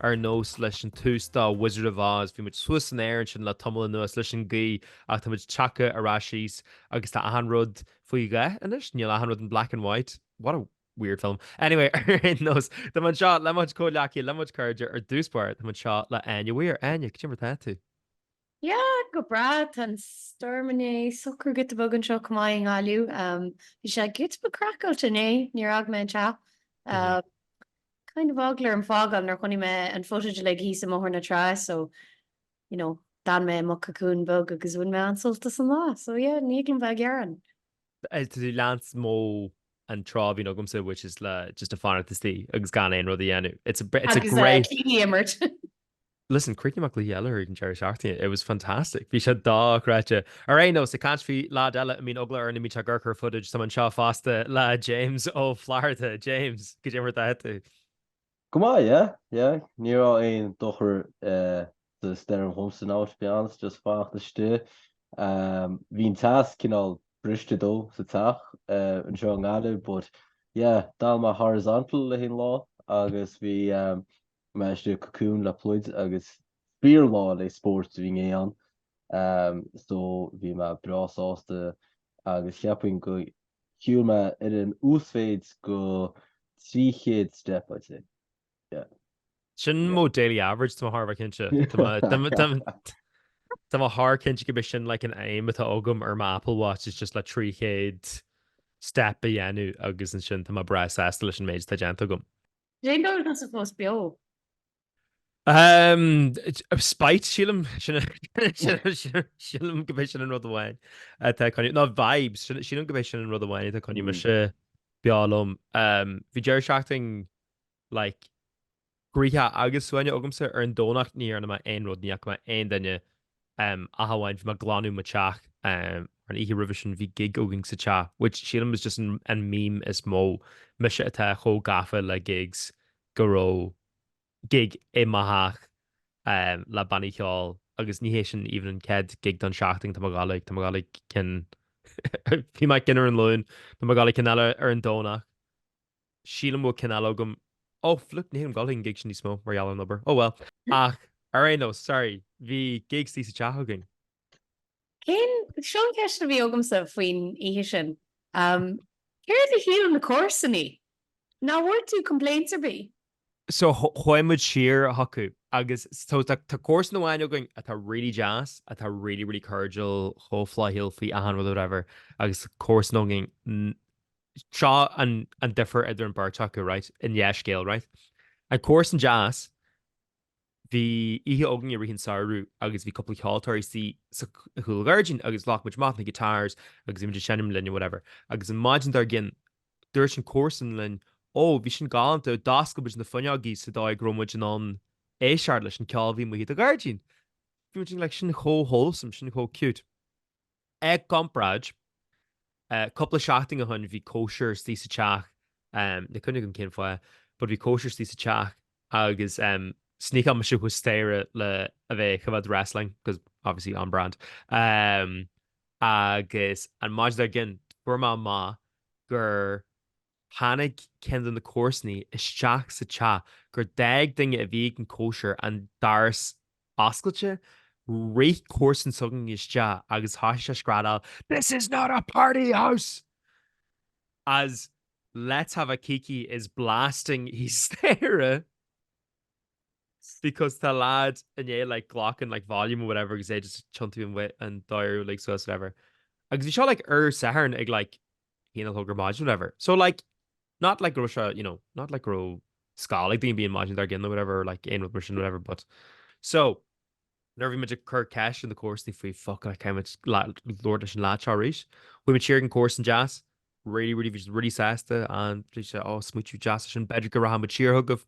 ar nós leis an tús do Wizard of Oz, bhí muid suas san aer ansin le tamall anuas leis an gaoth ach tá muid tagtha ar ais síos agus tá achan rud faoi dhath anois, níl achan rud in black and white. What a weird film. Anyway, ar aon nós, tá muid anseo le muid comhghleacaí, le muid cairde ar dtús báire, tá muid anseo le Áine Mhaoir. Áine, cad é mar tá tú? Yeah, go breá, tá an stoirm inné socraithe giota beag anseo chomh maith i nGaillimh. Bhí sé giota beag craiceáilte inné, níor fhág mé an teach. Kind of eagla orm fágáil nuair a chonaic mé an footage uilig thíos i mBóthar na Trá so, you know, d'fhan mé i mo cocoon beag agus bhain mé an-sult as an lá. So yeah, ní thig liom bheith ag gearán. Tá tú ag leanstan mantra a bhíonn agamsa which is le just a fanacht istigh agus gan aon rud a dhéanamh. It's a, it's a great. Agus cluichí a imirt. Listen, chríochnaigh mé cluiche eile ag an deireadh seachtaine. It was fantastic. Bhí sé dochreidte. Ar aon nós, ag caint faoi leaid eile a mbíonn eagla air nuair a bhíonn sé ag amharc ar footage, tá muid anseo fosta le James Ó Flatharta. James, cad é mar atá tú. Go maith, yeah, yeah. Ní raibh aon dochar sa stoirm dhomsa now to be honest, just fanacht istigh. Bhí an teas cineál briste though sa teach anseo i nGaillimh but yeah, d'fhan mé horizontal le haon lá agus bhí mé istigh i cocoon le pluid agus fíor lá le spóirt a bhí inné ann so bhí mé breá sásta agus cheapfainn gur shiúil mé ar an uasmhéid de 300 step I'd say yeah. Sin mo daily average tá mé thar a bheith cinnte. Tá mé thar cinnte gurb é sin like an aim atá agam ar mo Apple Watch is just le 300 step a dhéanamh agus ansin tá mé breá sásta leis an méid atá déanta agam. Cén dóigh atá tusa fós beo? Umm spite sílim sin sílim gurb é sin an rud amháin atá ag coinneáil, ná vibes sílim gurb é sin an rud amháin atá ag coinneáil mise beo liom. Umm bhí deireadh seachtain like Gaoithe agus Suaine agamsa ar an Domhnach ní dhearna mé aon rud, ní fhaca mé aon duine ach amháin bhí mé ag glanadh mo teach an oíche roimhe sin bhí gig againn sa teach which sílim is just an meme is mó, mise atá chomh gafa le gigs go raibh gig i mo theach le bannaí ceoil agus ní hé sin even an chéad gig don seachtain, tá mé ag dul ag, tá mé ag dul ag ceann, bhí mé ag ceann ar an Luan, tá mé ag dul ag ceann eile ar an Domhnach. sílim go bhfuil cineál agam, ó, flip, ní bhím ag dul ag gigs níos mó mar gheall ar an obair, oh well. Ach, ar aon nós, sorry, bhí gig istigh sa teach againn. Cén, seo an cheist a bhí agamsa faoin oíche sin, céard a shíleann na comharsanaí? Ná bhfuair tú complaints ar bith? so chuaigh muid siar chucu agus so tá comharsan amháin againn atá really deas, atá really really cordial, chomh flaithiúil faoi achan rud or whatever agus comharsan againn, seo an difear idir an beirt acu, right, i ndá scéal, right, an comharsan deas, Bhí oíche againn i rith an samhradh agus bhí cúpla ceoltóir istigh sa chúl ghairdín agus ghlac muid amach na guitars agus bhí muid ag seinm linn and whatever agus an maidin dár gcionn dúirt an comharsan linn ó bhí sin galánta d'oscail muid na fuinneogaí sa dóigh go raibh muid in ann éisteacht leis an ceol a bhí amuigh i do ghairdín. Bhí muid like sin chomh wholesome sin chomh cute. I gcomparáid, cúpla seachtain ó shin bhí cóisir istigh sa teach, níl cuimhne agam cén fáth, but bhí cóisir istigh sa teach agus sneak mise thuas staighre le a bheith ag coimhéad wrestling, cos obviously on brand, agus an maidin dár gcionn fuair mé amach gur. Tháinig ceann de na comharsanaí isteach sa teach gur d'fhág duine a bhí ag an gcóisir an doras oscailte. Rith comharsan s'againne isteach agus thosaigh sé ag screadáil This is not a party house! as Let's have a kiki is blasting thíos staighre because tá lad i ndiaidh like glacadh like volume or whatever agus é just ag tiontú an dial like suas whatever. Agus bhí seo like ar Satharn ag like. A haon a chlog ar maidin whatever. So like not like go raibh sé you know not like go raibh scoil ag daoine an maidin dár gcionn nó whatever like aon rud mar sin whatever but so nuair bhí muid ag cur ceist ar na comharsanaí faoi, fuck, caithfimid labhairt leis an lad seo arís. Chuaigh muid siar, an comharsan deas really really bhí really sásta an bhí sé ag smaointiú deas sin b'fhéidir go rachaidh muid siar chugaibh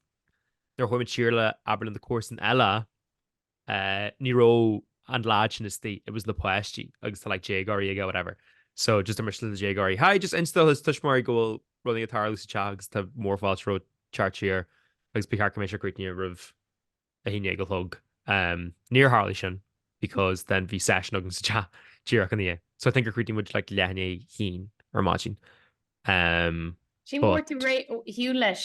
nuair chuaigh muid siar le labhairt leis an comharsan eile ní raibh an lad sin istigh, it was na páistí agus tá like déagóirí aige whatever. So just dúirt muid le na déagóirí hi, just inis do do thuismitheoirí go bhfuil rudaí ag tarlú sa teach agus tá mór fáilte romhat teacht siar agus ba cheart go mbeidh sé críochnaithe roimh a haon déag a chlog. Umm níor tharlaigh sin because then bhí session againn sa teach díreach ina dhiaidh. So I think gur chríochnaigh muid like leath i ndiaidh a haon ar maidin. Umm but. Sílim go bhfuair tú ar shiúl leis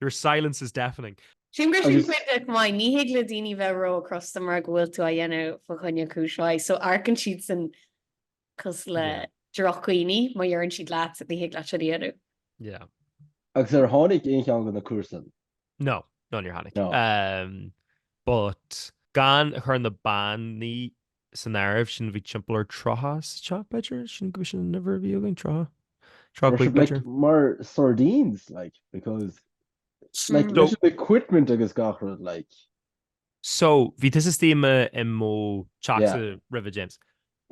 Your silence is deafening. Sílim gur sin cuid de chomh maith, ní thig le daoine bheith ró crosta mura go bhfuil tú á dhéanamh fa choinne cúis mhaith. So amharcann siad san cosúil le drochdhaoine má dheireann siad leat ní thig leat sin a dhéanamh. Yeah. Agus ar tháinig aon cheann de na comharsain? No, no níor tháinig. No. Um, but gan chur na bannaí san áireamh sin bhí timpeall ar tríocha sa teach b'fhéidir, sílim gur sin an uimhir a bhí againn, tríocha, tríocha cúig b'fhéidir. mar sardines like because like leis an equipment agus gach rud like. So bhí tusa istigh i mo teachsa roimhe James.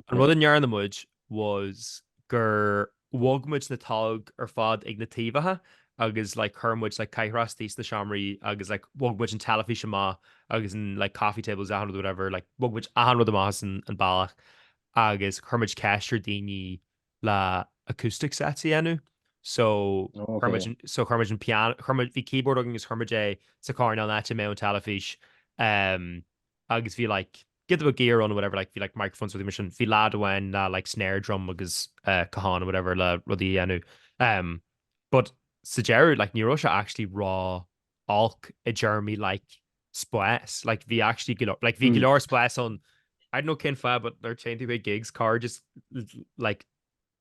An rud a ndearna muid was gur bhog muid na tolg ar fad ag na taobhacha agus like chuir muid like cathaoireacha istigh sna seomraí agus like bhog muid an teilifís amach agus an like coffee tables achan rud whatever like bhog muid achan rud amach as an an bealach agus chuir muid ceist ar daoine le acoustic sets a dhéanamh so chuir muid so chuir muid an piano chuir muid bhí keyboard agus chuir muid é sa coirnéal áit a mbeadh an teilifís agus bhí like giota a gear ann or whatever like bhí like microphones rudaí mar sin. Bhí lad amháin le like snare drum agus eh cajón or whatever le rudaí a dhéanamh. Em but sa deireadh like ní raibh sé actually ró-olc i dtéarmaí like spás. Like bhí actually go leor like bhí go leor spás ann. I don't know cén fáth but nuair a théann tú chuig gigs cairde just like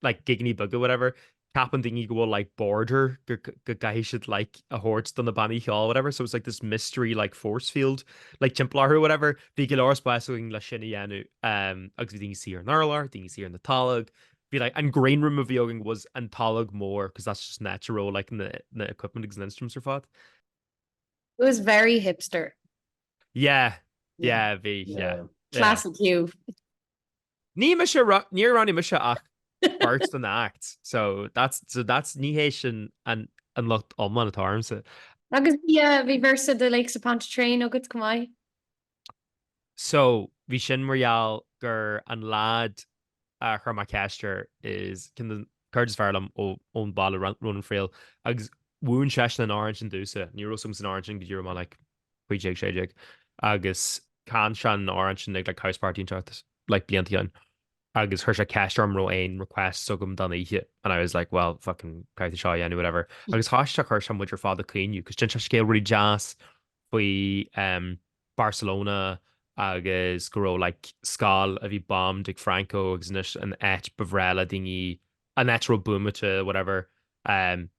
like gigeannaí beaga whatever ceapann daoine go bhfuil like border go go gcaithfidh siad like a thabhairt do na bannaí cheoil whatever so it's like this mystery like force field like timpeall orthu whatever bhí go leor spás againn le sin a dhéanamh um, agus bhí daoine ina suí ar an urlár daoine ina suí ar na tolg bhí like an green room a bhí againn was an tolg mór because that's just natural like na, na equipment agus na instruments ar fad It was very hipster yeah yeah bhí yeah, yeah. classic Hugh Ní mise ra, níor roghnaigh mise ach beirt de na acts so that's, so that's, ní hé sin an, an locht iomlán atá ormsa. Agus bhí, eh, bhí verse de Lakes of Pontchartrain agat chomh maith. So, bhí sin mar gheall gur an leaid a chuir mé ceist air is ceann de na cairde is fearr liom ó, ón bhaile Ro, Ronan Friel agus mhúin seisean an amhrán sin domhsa. Ní raibh a fhios agamsa an amhrán sin go dtí raibh mé like, 15, 16 agus chan sé an amhrán sin ag like House Party an tseachtain like blianta ó shin agus chuir sé ceist orm raibh aon requests agam don oíche and I was like well fucking caithfidh tú seo a dhéanamh whatever agus choiste a chuir sé muid ar fad ag caoineadh cos d'inis sé scéal really deas faoi um Barcelona agus go raibh like scoil a bhí bombed ag Franco agus anois an áit ba bhreá le daoine an áit a raibh buamáilte whatever um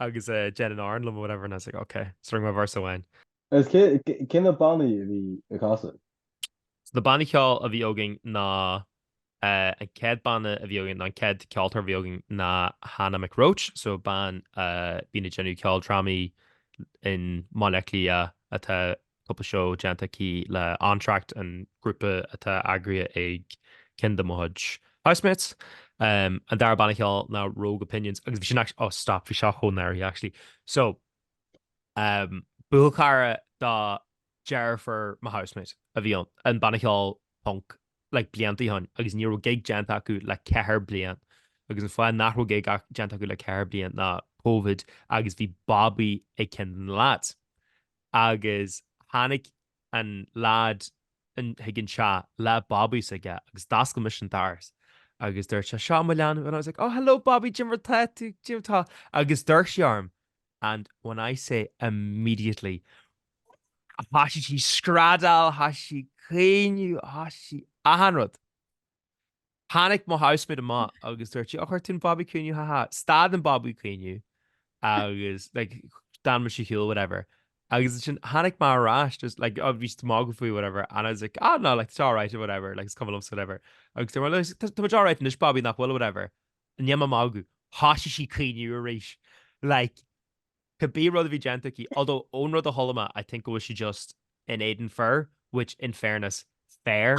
agus déan an amhrán liom or whatever and I was like ok, just rinne mé verse amháin. Agus cé cé na bannaí a bhí ag casadh? So na bannaí ceoil a bhí againn ná eh, an céad banna a bhí againn ná an céad ceoltóir a bhí againn ná Hannah McRoach, so bean eh, bíonn ag déanamh ceoldrámaí i mBaile Átha Cliath atá cúpla seó déanta aici le Entr'acte, an grúpa atá eagraithe ag ceann de mo chuid housemates. An dara banna ceoil ná Rogue Opinions agus bhí sin actually, oh stop, bhí seo chomh náireach actually. So, buachaill cara do deirfiúr mo housemate a bhí ann, an banna ceoil punk like blianta ó shin agus ní raibh gig déanta acu le ceithre bliain agus an fáth nach raibh gig déanta acu le ceithre bliain ná Covid agus bhí babaí ag ceann de na lads. Agus tháinig an leád chuig an teach le babaí s'aige agus d'oscail mise an doras agus dúirt sé seo mo leanbh and I was like oh hello babaí cad é mar tá tú cad é mar tá agus d'amharc sí orm and when I say immediately thoisigh sí screadaíl thoisigh sí caoineadh thoisigh sí achan rud. Tháinig mo housemate amach agus dúirt sí, 'Ó chuir tú an babaí ag caoineadh, ha ha. Stad an babaí ag caoineadh agus like d'fhan mise ar shiúl whatever. Agus ansin tháinig mé ar ais agus like oh bhí siad ag magadh faoi whatever and I was like, 'Ah no, like tá sé alright whatever, like is cuma liomsa whatever. Agus dúirt mé, 'Well like tá muid alright anois babaí nach bhfuil whatever. Níl mé ag magadh. Thoisigh sí ag caoineadh arís. Like cibé rud a bhí déanta aici although ón rud a chuala mé I think go bhfuil sí just in éadan fir which in fairness fair.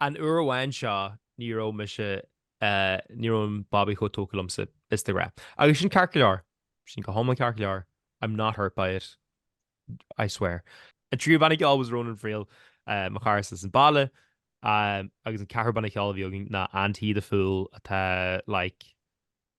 An uair amháin seo ní raibh mise, ní raibh an babaí chomh tógtha liomsa is de ghnáth. Agus sin ceart go leor. Sin go hiomlán ceart go leor. I'm not hurt by it. I swear. An tríú banna ceoil was Ronan Friel, mo chara as an baile. Agus an ceathrú banna ceoil a bhí againn ná And He The Fool atá like.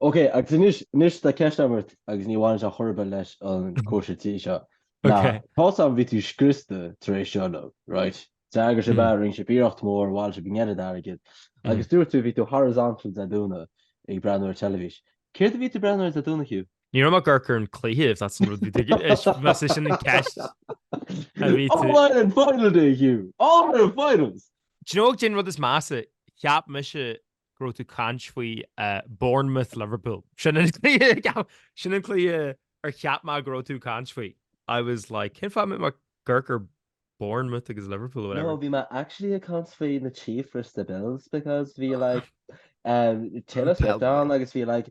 Ok agus anois anois tá ceist agam ort agus ní bhaineann sé ar chor ar bith leis an cóisir tí seo. Ná, Ok. tá a fhios agam bhí tú scriosta tar éis seo uilig, right? D'eagraigh sibh é, rinne sibh iarracht mór, bhailigh sibh an oiread airgid. Agus dúirt tú bhí tú horizontal Dé Domhnaigh ag breathnú ar teilifís. Céard a bhí tú ag breathnú air Dé Domhnaigh Hugh? Ní raibh mé ag amharc ar an cluiche if that's an rud bhí tú ag is más é sin an ceist a bhí tú. All Ireland final day Hugh! All Ireland finals! Do you know cad é an rud is measa, cheap mise go raibh tú ag caint faoi Bournemouth Liverpool sin sin an cluiche ar cheap mé go raibh tú ag caint faoi I was like cén fáth a mbeadh mé ag amharc ar Bournemouth agus Liverpool whatever. No, bhí mé actually ag caint faoi na Chiefs versus the Bills because bhí like um, Taylor Swift ann agus bhí like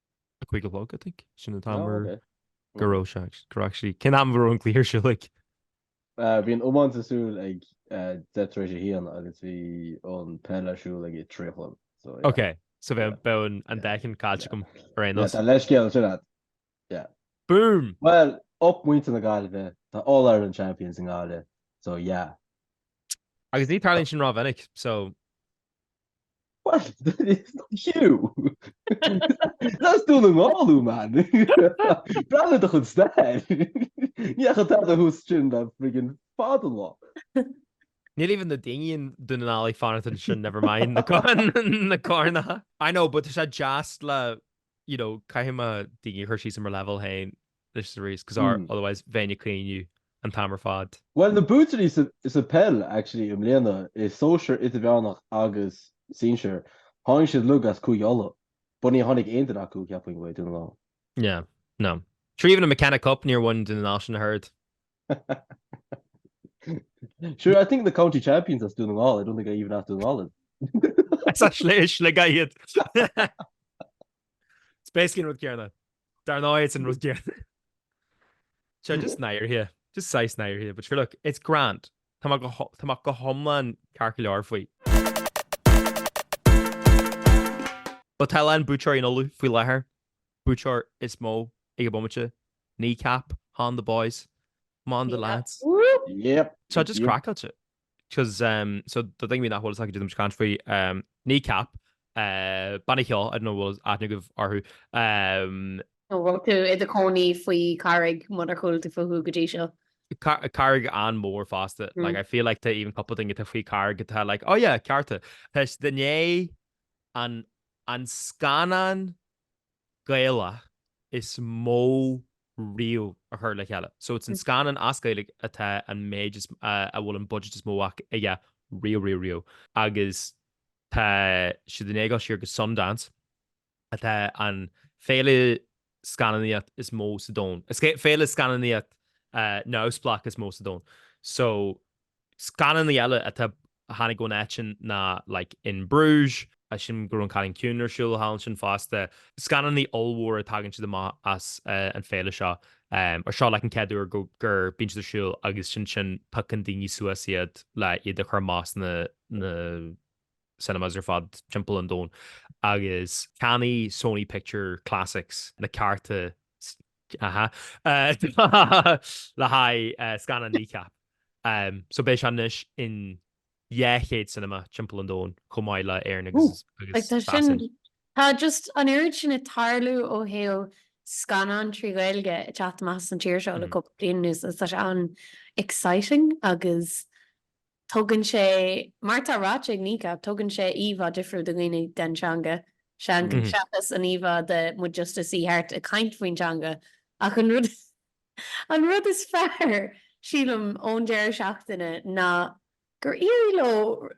a cúig a chlog I think. Sin an t-am ar go raibh sé go raibh actually cén am a raibh an cluiche ar siúl like? Bhí an iomáint ar siúl ag deich tar éis a haon agus bhí an peil ar siúl ag a trí a chlog so yeah. Ok so bheadh bheadh an dá cheann caillte agam ar aon nós. Tá leithscéal ansin a'd. Yeah. Boom! Bhuel up muintir na Gaillimhe tá All Ireland champions i nGaillimh so yeah. Agus ní tharlaíonn sin rómhinic so. What? It's not you! Ná Dún na nGall, man! Breathnaigh do chuid stair! Ní fhaca tada thuas ansin le friggin' fada an lá. Níl even na daoine i nDún na nGall ag fanacht ansin never mind na coirn. I know but tá sé deas le you know caithfidh mé daoine a chur síos ar mo leibhéal féin. This is the reason, because our, otherwise bheinn ag caoineadh an t-am ar fad. Bhuel na buaiteoirí sa pheil actually i mbliana i sóisear idirmheánach agus sinsear tháinig siad uilig as Cúige Uladh but ní tháinig aon duine acu ceapaim ó Dhún na nGall. No, no. Sure even an McKenna Cup níor bhain Dún na nGall sin ach oiread. Sure I think na county champions as Dún na nGall I don't think I even as Dún na nGall iad. Is as Sligeach iad. It's basically an rud céarna. Dar ndóigh it's an rud céarna. So just náirithe, just saghas náirithe, but sure look, it's grand. Tá mé go ho- tá mé go hiomlán ceart go leor faoi. But tá a lán buaiteoirí in Uladh faoi láthair. Buaiteoir is mó ag an bomaite, Kneecap, Hon the boys, 'Mon the lads. Yep. Tá just Yep. craiceáilte. 'cause um so the thing with that whole said to can't free um kneecap uh Benny Hill I don't know was at negative or who um nó bhfuil tú i do cónaí faoi carraig munar chúil tú fú go dtí seo. Carraig an mór fásta mm. like, I feel like tá even couple thing tá faoi carraig go tá like, oh yeah, cearta Tás duné an an scanán Gaelach is mó riamh a chur le chéile. So it's an scannán as Gaeilge atá an méid is a bhfuil an budget is mó aige riamh riamh riamh. Agus tá siad i ndiaidh gabháil siar go Sundance atá an féile scannánaíocht is mó sa domhan. Féile scannánaíocht neamhspleách is mó sa domhan. So scannánaí eile atá a tháinig ón áit sin ná like In Bruges, sílim go raibh an Cailín Ciúin ar siúl thall ansin fosta. Scannánaí ollmhóra tagann siad amach as an féile seo. Or seo like an chéad uair go gur bíonn siad ar siúl agus sin sin piocann daoine suas iad le iad a chur amach sna na cinemas ar fad timpeall an domhain agus cheannaigh Sony Picture Classics na cearta le haghaidh scannán Kneecap. So beidh sé anois in 200 cinema timpeall an domhain chomh maith le Éirinn agus tá sin, tá just an oiread sin ag tarlú ó thaobh scannán trí Ghaeilge ag teacht amach as an tír seo le cúpla bliain anuas agus tá sé an-exciting agus Tugann sé, mar atá ráite ag Kneecap, tugann sé íomhá difriúil do dhaoine den teanga seachas an íomhá de muid just ag suí thart ag caint faoin teanga ach an rud an rud is fearr, sílim, ón deireadh seachtaine ná gur éirigh leo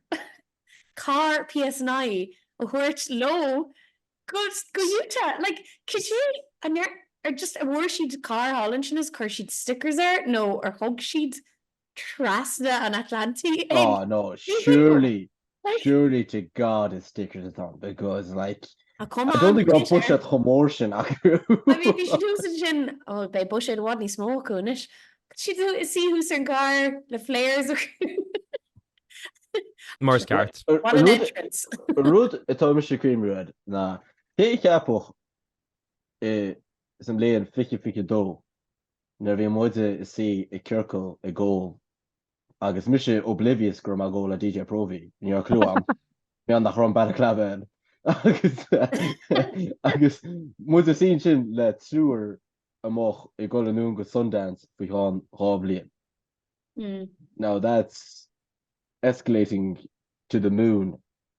carr PSNI a thabhairt leo go go Utah! Like, cad é an ndear ar just an bhfuair siad carr thall ansin is chuir siad stickers air nó ar thug siad trasna an Atlantaigh ag Aw no, Ní Shíomóin. surely, Like, surely to God is stickers atá ann because like, ah, come I don't on, think tá Peter. buiséad chomh mór sin acu. I mean, bhí siad thuas ansin, ó, beidh buiséad i bhfad níos mó acu anois. Tá siad thu- suí thuas ar an gcarr le flares acu. Mar is ceart. Ar- What an rud- entrance. An rud atá mise ag cuimhniú air ná cé a cheapfadh insa mbliain 2022 nuair a bhí muide ag suí i gciorcal ag ól agus mise oblivious go raibh mé ag ól le DJ Próvaí, ní raibh cliú agam mar gheall nach raibh an balaclava ann agus agus muid ag suí ansin le triúr a mbeadh ag dul anonn go Sundance faoi cheann dhá bhliain. Now that's escalating to the moon.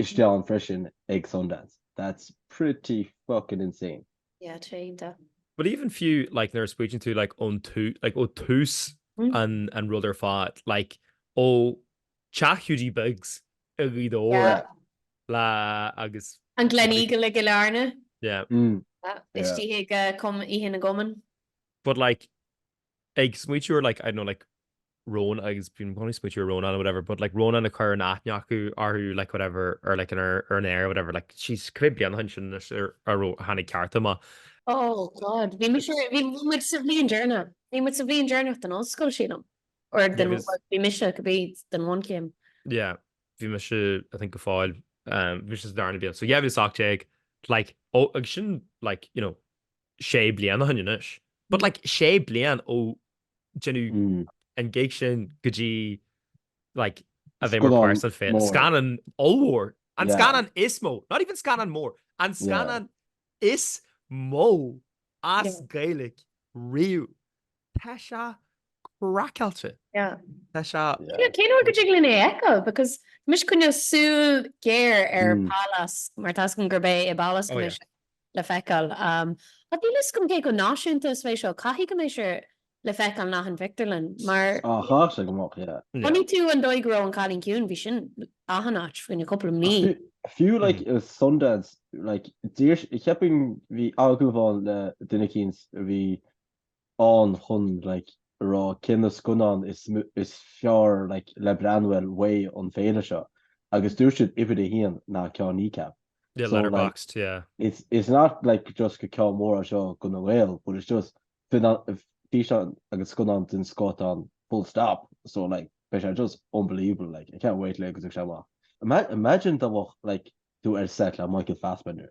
isteach ann freisin ag Sundance. That's pretty fucking insane. Yeah, tá iontach. But even fiú like nuair a smaoitíonn tú like ón tús like ó tús an an rud ar fad like ó teach Hiúdaí Beag's i nGaoth Dobhair le agus An Gleneagle i gCill Airne. Yeah. Istigh ag Cum- Oíche na gCumann. But like ag smaoitiú ar like I don't know like Rónán agus bhí mé ag smaoitiú ar Rónán or whatever but like Rónán ag cur an aithne acu orthu like whatever or like in ar an aer or whatever like jeez cá mhéad bliain ó shin sin anois ar ar a tháinig CEARTA amach. Oh God bhí mise bhí muid sa bhliain deireanach bhí muid sa bhliain deireanach den ollscoil sílim or den Agus well bhí mise go bhí den bhunchéim. yeah bhí mise I think go fóill um bhí mise sa darna bliain so yeah bhí mise 18 like ó agus sin like you know sé bliana ó shin anois. But like sé bliain ó deineadh an gig sin go dtí like a bheith mar part san féin. Scannán ollmhór. An scannán is mó. Not even scannán mór. An scannán is mó as Gaeilge riamh. Tá sé craiceáilte. Tá sé. Cén uair go dtig linn é a fheiceáil because tá mise ag coinneáil súil géar ar Pálás mar tá 'fhios agam gurb é i bPálás atá mise le feiceáil. Ach níl 'fhios agam cé chomh náisiúnta is a bheidh seo. Caithfidh go mbeidh sé le feiceáil in achan phictiúrlann mar tá sé ag dul amach, chonaic tú an dóigh go raibh An Cailín Ciúin, bhí sin achan áit faoi choinne cúpla mí. Fiú like i Sundance like d'iarr, ceapaim bhí agallamh ann le duine eicínt a bhí ann chun like a rá cé na scannáin is is fearr like le breathnú uaidh an féile seo agus dúirt siad uimhir a haon ná ceann Kneecap. Yeah, so, Letterboxd, like, yeah. It's, it's not like just gur ceann mór é seo do na Gaeil, but it's just tí an agus scannán den scoth ann full stop so like beidh sé just unbelievable like I can't wait le go dtiocfaidh sé amach. Imagine dá mbeadh like tú ar set le Michael Fassbender.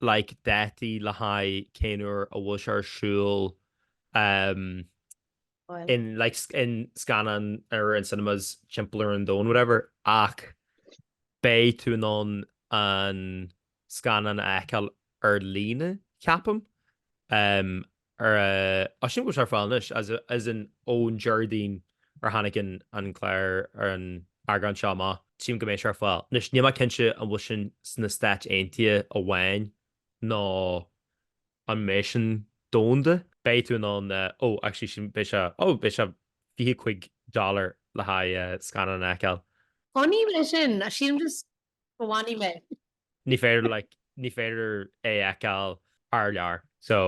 like, dátaí le haghaidh cén uair a bhfuil sé ar siúl em Bhuel. in, like, sc an scannán ar in cinemas timpeall ar an domhan whatever ach beidh tú in ann an scannán a fheiceáil ar líne, ceapaim. em. or I assume go bhfuil sé ar fáil anois as as in ón Déardaoin ar tháinig an an clár or an eagrán seo amach. tchím go mbeidh sé ar fáil. Anois, níl mé cinnte an bhfuil sin sna Stáit Aontaithe amháin nó an mbeidh sin domhanda. beidh tú in ann eh, oh actually sin beidh sé, oh beidh sé fiche cúig dollar le haghaidh eh, scannán a fheiceáil. Fanfaidh mise, sílim just go bhfanfaidh mé. ní féidir like ní féidir é fheiceáil thar lear so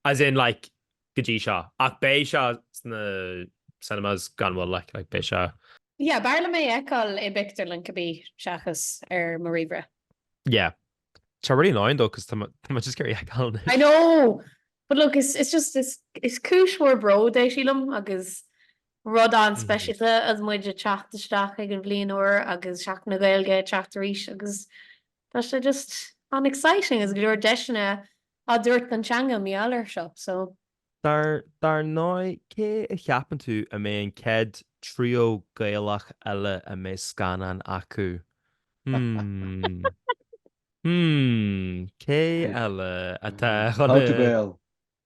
as in like go dtí seo ach beidh seo sna cinemas gan mhoill like like beidh seo yeah b'fhearr liom é fheiceáil i bpictiúrlann cibé seachas ar mo ríomhaire yeah tá sé really annoying though cos tá mé just ag iarraidh é fheiceáil I know but look it's, it's just it's, it's cúis mhór bród é sílim agus Rud an-speisialta agus muid ag teacht isteach ag an bhliain úr agus Seachtain na Gaeilge ag teacht arís agus tá sé just an-exciting agus go leor deiseanna á dtabhairt don teanga mar gheall air seo. So. Dar ndóigh, cé a cheapann tú a mbeidh an chéad trio Gaelach eile a mbeidh scannán acu? Hmm. Hmm. Cé eile atá chun. How to Gael.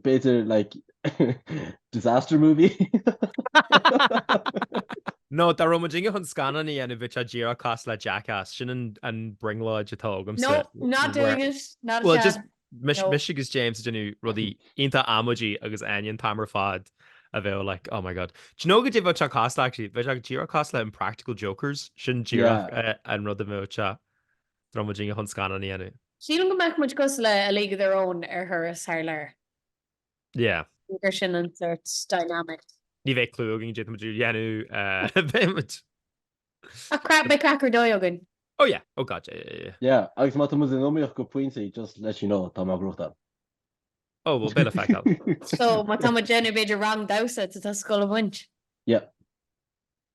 b'fhéidir like disaster movie. No, dá raibh muidinne chun scannán a dhéanamh bheadh sé díreach cosúil le Jackass, sin an an brionglóid atá agamsa. No, not doing it, not a chance. Well just mise mise no. agus James ag déanamh rudaí iontach amaidí agus Áine an t-am ar fad a bheadh like oh my god. Do you know goidé bheadh sé cosúil le actually bheadh sé díreach cosúil le Impractical Jokers, sin díreach yeah. an rud a bheadh sé. Dá raibh muidinne chun scannán a dhéanamh. Sílim go mbeadh muid cosúil le A League of Their Own ar thuras thar lear. Yeah. Gur sin an sort dynamic. Ní bheidh clue againn caidé tá muid a dhéanamh beidh muid. Ach crap beidh craic ar dóigh againn. Oh yeah, oh god yeah, yeah, yeah. Yeah, agus má tá muid in iomaíocht go pointí just let you know tá mé á ghnóchtáil. Oh bhuel beidh le feiceáil. So má tá muid déanamh b'fhéidir rang damhsa tá tusa ag goil a bhaint. Yeah.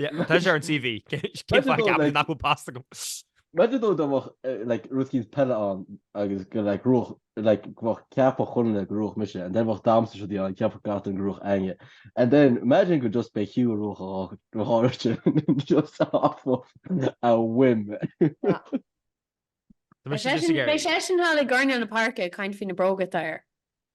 Tá sé ar an CV. Cén fáth a gceapfá nach bhfuil pas agam? Imagine though dá mbeadh like rud eicínt peile ann agus go mbeadh cheapfadh chuile dhuine go ngnóthódh mise and then bheadh damhsa is rudaí ann cheapfadh gach duine go ngnóthódh Áine and then imagine go just b'é Hugh a ghnóthódh dáiríre just off of a whim. Beidh seisean thall i gcoirnéal na páirce ag caint faoi na bróga atá air.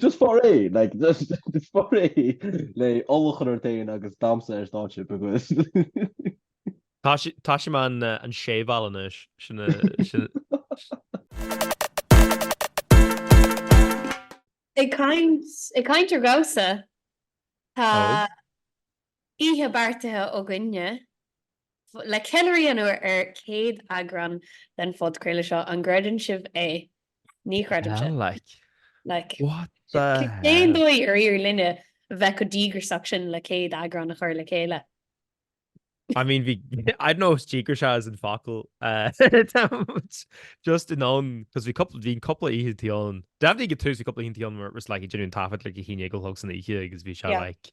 Just for a like just just for a le ólachán ar tain agus damhsa ar stáitse because Tá sé- tá sé man uh, an séval anois. Sin a sin Ag caint ag caint ar dhamhsa tá Ó. oíche beartaithe againne le ceiliúradh a dhéanamh ar céad eagrán den phodchraoladh seo. An gcreideann sibh é? Ní chreidimse. Like. What the hell? Cén dóigh ar éirigh linne bheith chomh díograiseach sin le céad eagrán a chur le chéile? I mean bhí, I don't know if díograiseach is an focal just in ann cos bhí cúpla, bhí cúpla oícheantaí ann. Definitely ag tús bhí cúpla oícheantaí ann where it was like ag déanamh an taifead like a haon déag a chlog san oíche agus bhí sé like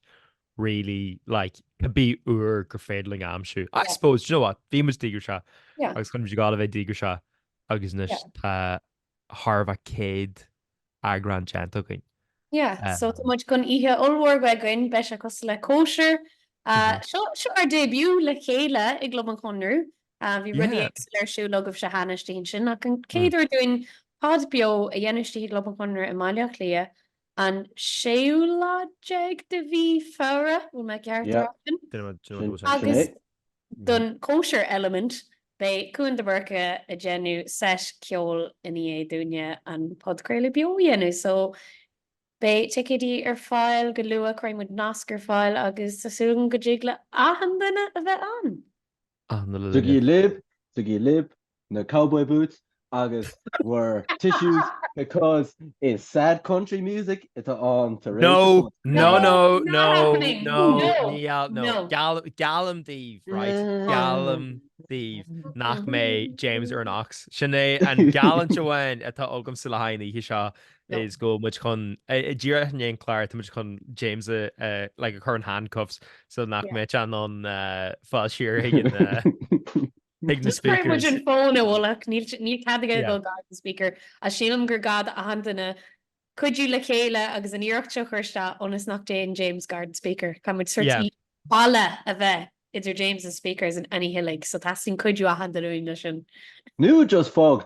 really like cibé uair gur féidir linn aimsiú. I Yeah. suppose, do you know what, bhí muid díograiseach Yeah. agus tá muid ag gabháil a bheith díograiseach agus anois Yeah. tá thart fá céad eagrán déanta againn. Yeah, Um, so tá muid chun oíche ollmhór a bheith againn, beidh sé cosúil le cóisir. Ah, Mhm. Seo seo ar début le chéile i gClub an Chonradh. Ah, Bhí rudaí Yeah. éagsúla ar siúl agaibhse cheana istigh ansin, ach an céad uair dúinn pod beo a dhéanamh istigh i gClub an Chonradh i mBaile Átha Cliath, an séú lá déag de mhí Feabhra, bhfuil mé ceart Yeah. ar sin? Duine mo- duine mo dúirt é. Sin é. Agus don cóisir element beidh Cuan de Búrca ag déanamh seit ceoil i ndiaidh dúinne an podchraoladh beo a dhéanamh. So beidh ticéidí ar fáil go luath, cuirfidh muid nasc ar fáil agus tá súil agam go dtig le achan duine a bheith ann. Aithne le linn a. Tugaigí libh, tugaigí libh, na cowboy boots agus bhur tissues because is sad country music atá ann tar éis an pod. No, no, no, no, no, ní gheall, no, geall, geallaim daoibh, right, geallaim daoibh nach mbeidh James ar an aux, sin é an geallúint amháin atá agamsa le haghaidh an oíche seo, is go bhfuil muid chun díreach i ndiaidh an chláir tá muid chun James like a chur in handcuffs so nach mbeidh sé in ann fáil siar chuig an speaker an fón a bhualadh níl cead aige dul gar don speaker a sílim gur gá do achan duine cuidiú le chéile agus an iarracht seo chur isteach ionas nach dtéann James gar don speaker caithfidh muid sort of balla a bheith idir James is na speakers an oíche uilig so teastaíonn cuidiú achan duine uainn leis sin. Nó just fág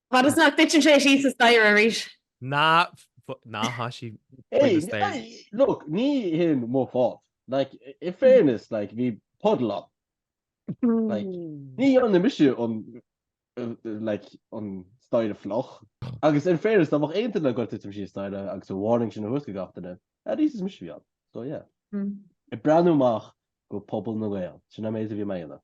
Fad is nach dtuiteann sé síos an staighre arís? Ná tá sí faoin a staighre. Look, ní hin mo fault. Like, in fairness, like, bhí puddle ann. Like, ní dhearna mise an, like, an staighre fliuch. Agus in fairness, dá mbeadh aon duine chun tuitim síos an staighre agus an warning sin a thabhairt do gach duine, at least is mise a bhí ann. So yeah. Ag breathnú amach do Pobal na nGael, sin an méid a bhí mé ag déanamh.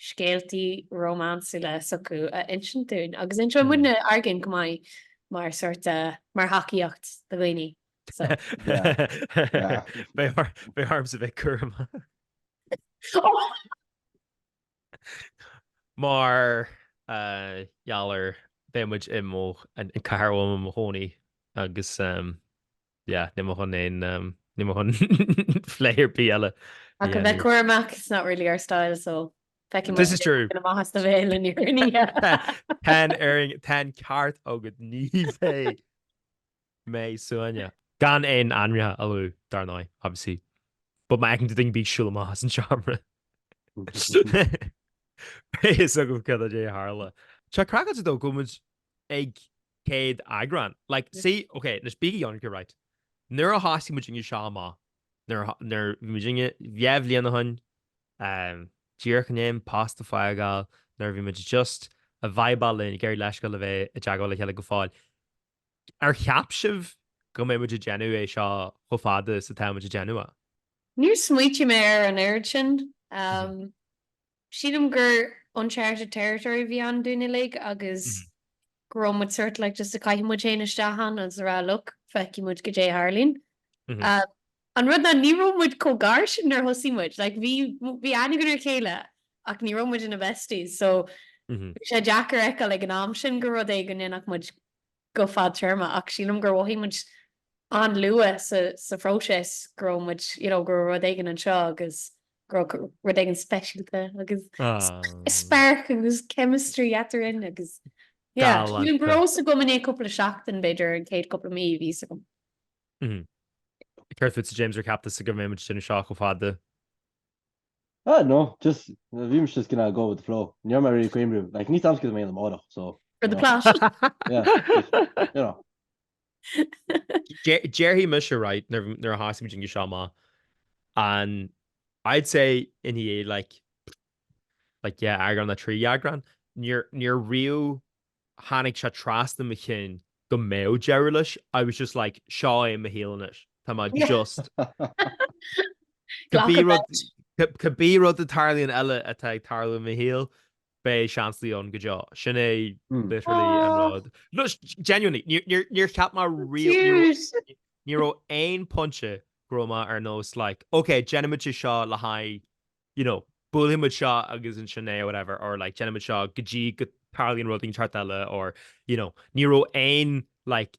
scéaltaí rómánsúla s'acu a insint dúinn agus inseoidh muidne ár gcinn chomh maith mar sórt de mar thacaíocht do dhaoine so. Beidh ormsa bheith cúramach. Mar gheall ar beidh muid i mo an chathair uaim i mo chónaí agus. Yeah, níl mé chun aon, níl mé chun plé ar bith eile. Ach a bheith cúramach, it's not really our style so feicfidh muid This is true. na maithe sa bhéal aniar in oíche. Tá'n fhearing, tá'n ceart agad ní bheidh mé suainne. Gan aon ainmneacha a lua, dar ndóigh, obviously. But má fheiceann tú duine ag siúl amach as an seomra. Beidh fhios agam cad é a tharla. Tá sé cracked though go bhfuil muid ag céad eagrán. Like, see, ok, anois bígí ionraic, right. Nuair a thosaigh muidinne seo amach, nuair a tho-, nuair bhí muidinne dhá bhliain ó shoin, ehm, díreach i ndiaidh post a fhágáil, nuair a bhí muid just ag vibeáil linn, ag iarraidh leithscéal a bheith i dteagmháil le chéile go fóill. Ar cheap sibh go mbeidh muid ag déanamh é seo chomh fada is atá muid ag déanamh é? Níor smaoitigh mé ar an oiread sin, ehm, Sílim gur uncharted territory a bhí ann dúinn uilig agus go raibh muid sórt like just a chaith muid féin isteach ann agus a rá look, feicfidh muid go dé a tharlaíonn. An rud ná ní raibh muid chomh gar sin nuair a thosaigh muid, like bhí bhí aithne againn ar a chéile ach ní raibh muid ina besties so bhí sé deacair a fheiceáil ag an am sin gur rud é go ndéanfadh muid go fadtéarma ach sílim gur mhothaigh muid an-luath sa phróiseas go raibh muid, you know, go raibh rud éigin anseo agus go raibh rud éigin speisialta agus spark agus chemistry eadrainn agus, yeah, sílim go raibh a fhios agam i ndiaidh cúpla seachtain b'fhéidir, an chéad cúpla mí bhí a fhios agam. Céard fútsa James ar cheap tusa go mbeidh muid sin anseo chomh fada? Ah no, just bhí mise just gonna go with the flow. Ní raibh mé really ag cuimhniú. Like ní tamscad mé amárach, so. For the plot. Yeah, just, you know. Déarfaidh mise right nuair a thosaigh muidinne seo amach and I'd say i ndiaidh like like yeah eagrán a trí eagrán níor níor really tháinig sé trasna mo chinn go mbeadh deireadh leis, I was just like seo é mo shaol anois, tá mé just Glacadh leis. cibé rud a tarlaíonn eile atá ag tarlú i mo shaol beidh Seansálaithe ann go deo. Sin é literally an rud. No, genuinely, níor níor cheap mé Cute! ní raibh aon pointe go raibh mé ar nós like, ok, déanfaimid é seo le haghaidh you know, buailfidh muid seo agus ansin é or whatever or like déanfaidh muid seo go dtí go dtarlaíonn rud éigin ceart eile or you know, ní raibh aon like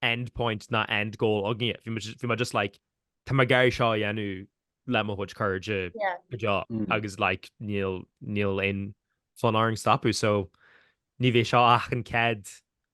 end point ná end goal againne. Bhí muid- bhí muid just like tá muid ag iarraidh seo a dhéanamh le mo chuid cairde Yeah. go deo Mm. agus like níl níl aon fonn orainn stopú so ní bheidh seo ach an céad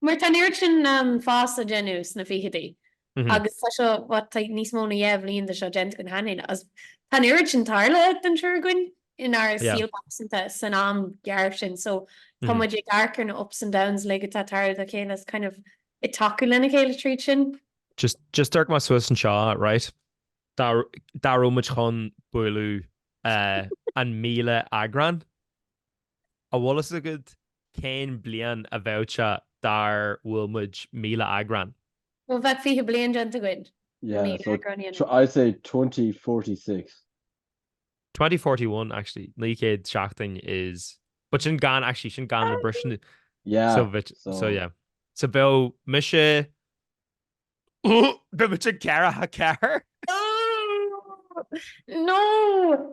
Mar tá an oiread sin fás á déanamh sna ficheadaí agus tá seo, what, tá níos mó ná dheich bhliain de seo déanta againn cheana féin agus tá an oiread sin tarlaithe don triúr againn inár saol pearsanta san am gearr sin so tá muid ag amharc ar na ups and downs uilig atá tarlaithe dá chéile is kind of ag tacú lena chéile tríd sin. Just, just amharc mé suas anseo, right? Dá raibh muid chun bualadh an míle eagrán? An bhfuil fhios agad cén bliain a bheadh sé dá mbuailfeadh muid míle eagrán? Bhuel, bheadh fiche bliain déanta againn le míle eagrán a dhéanamh. Yeah, so I'd say twenty forty six. Twenty forty one, actually, naoi gcéad seachtain is, but sin gan, actually, sin gan na briseanna. Yeah, so. So bheadh, so yeah. So bheadh mise, bheadh muid caoga ceathair. No!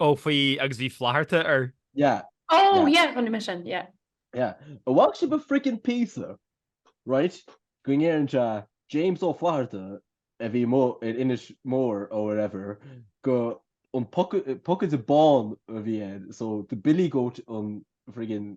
Oh faoi agus bhí Flatharta air. Yeah. Oh yeah chonaic mé sin yeah. Yeah. An bhfaca sibh an friggin píosa right go ndéarfainn James Ó Flatharta a bhí amuigh in Inis Mór or whatever go an pocaide bán a bhí ann so the billy goat an friggin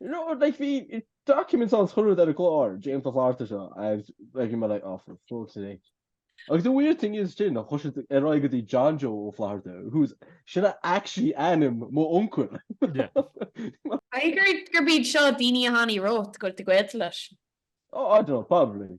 You know, like, bhí documents on Twitter ar an gclár, James Ó Flatharta seo, and like, you're like, oh, for fuck's sake. Agus the weird thing is sin, chuir siad ar aghaidh go dtí John Joe Ó Flatharta, who's, sin é actually ainm mo uncail. Caithfidh gur, gurb iad seo daoine a tháinig romhat go bhfuil tú gaolta leis. Oh, I don't know, probably.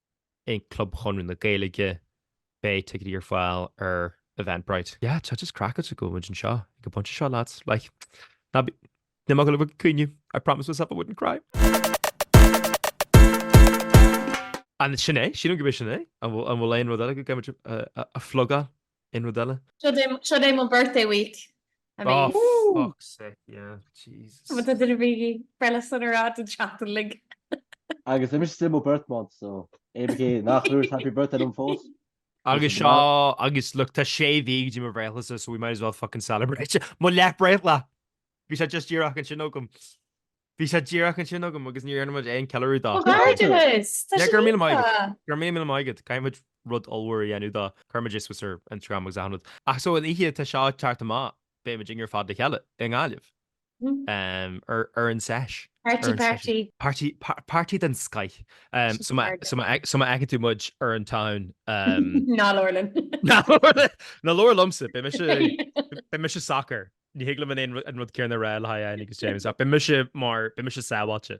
i gClub Chonradh na Gaeilge. Beidh ticéidí ar fáil ar Eventbrite. Yeah, tá sé craiceáilte? Go bhfuil muid anseo ag an bpointe seo, lads. Like, ná bí, níl mé ag goil ag caoineadh. I promised myself I wouldn't cry. An sin é? Sílim go b'é sin é. An bhfuil aon rud eile go gcaithfimid a phlugáil? Aon rud eile? Seo é mo birthday week. Oh fuck's sake yeah Jesus. Ba cheart do dhaoine bheith breithlá sona a rá don seachtain uilig. Agus it's still mo birth month so cibé cé nach dúirt happy birthday liom fós. Agus seo agus look tá sé sé mhí go dtí mo bhreithlá so we might as well fucking celebrate mo leath breithlá. Bhí sé just díreach ansin agam. Bhí sé díreach ansin agam agus níor dhearn muid aon ceiliúradh dó. Comhghairdeas! Tá sé líofa! Go raibh míle maith agat. Caithfimid rud ollmhór a dhéanamh dó. Cuirfimid é suas ar Instagram agus aithneoimid. Ach so an oíche atá seo teacht amach beidh muidinne ar fad le chéile i nGaillimh ar an sesh. Party party. Party party den scoth. So má so má fheiceann tú muid ar an town. Ná labhair linn. Ná labhair liom. Ná labhair liomsa. Beidh mise beidh mise socair. Ní thig liom an an rud céanna a rá le haghaidh Áine agus James ach beidh mise mar, beidh mise sábháilte.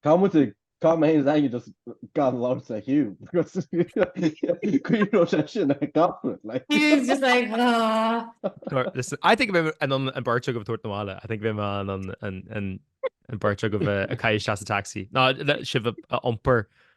Tá muid ag, tá mé féin is Áine just gan labhairt le Hugh because caoi raibh sé sin ag gabhrad like. Hugh's just like ahh. Listen, I think bheidh an an beirt agaibh a tabhairt na bhaile, I think bheidh mé an an an an beirt agaibh a caitheamh isteach sa taxi. Nó le sibh a iompar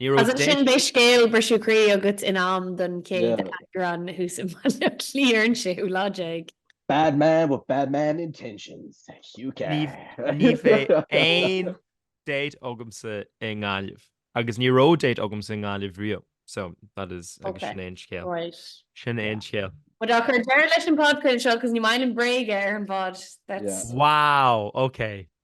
Ní raibh Is ansin beidh scéal briseadh croí agat in am don chéad eagrán thuas i mBaile Átha Cliath ar an 6ú lá déag. Bad man with bad man intentions. Hugh Carr. Ní bheidh aon date agamsa i nGaillimh agus ní raibh date agamsa i nGaillimh riamh so that is agus sin é an scéal. Sin é an scéal. Bhuel tá cur deireadh leis an bpodcraoladh seo cos ní maith liom bréaga ar an bpod. That's. Wow! Okay.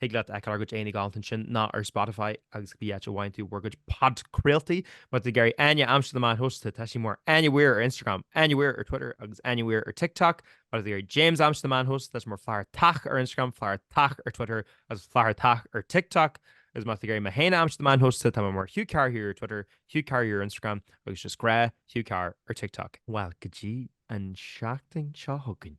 Thig leat a fheiceáil ár gcuid aghaidheanna galánta ansin nó ar Spotify agus gach áit a bhfaigheann tú bhur gcuid podchraoltaí. Má tá tú ag iarraidh Áine a aimsiú ar na meáin shóisialta, tá sí mar Áine Weir ar Instagram, Áine Weir ar Twitter agus Áine Weir ar TikTok. Má tá tú ag iarraidh James a aimsiú ar na meáin shóisialta, tá sé mar Flathartach ar Instagram, Flathartach ar Twitter agus Flathartach ar TikTok. Agus má tá tú ag iarraidh mé féin a aimsiú ar na meáin shóisialta, tá mé mar Hugh Carr Here ar Twitter, Hugh Carr ar Instagram agus just gnáth Hugh Carr ar TikTok. Bhuel, go dtí an seachtain seo chugainn.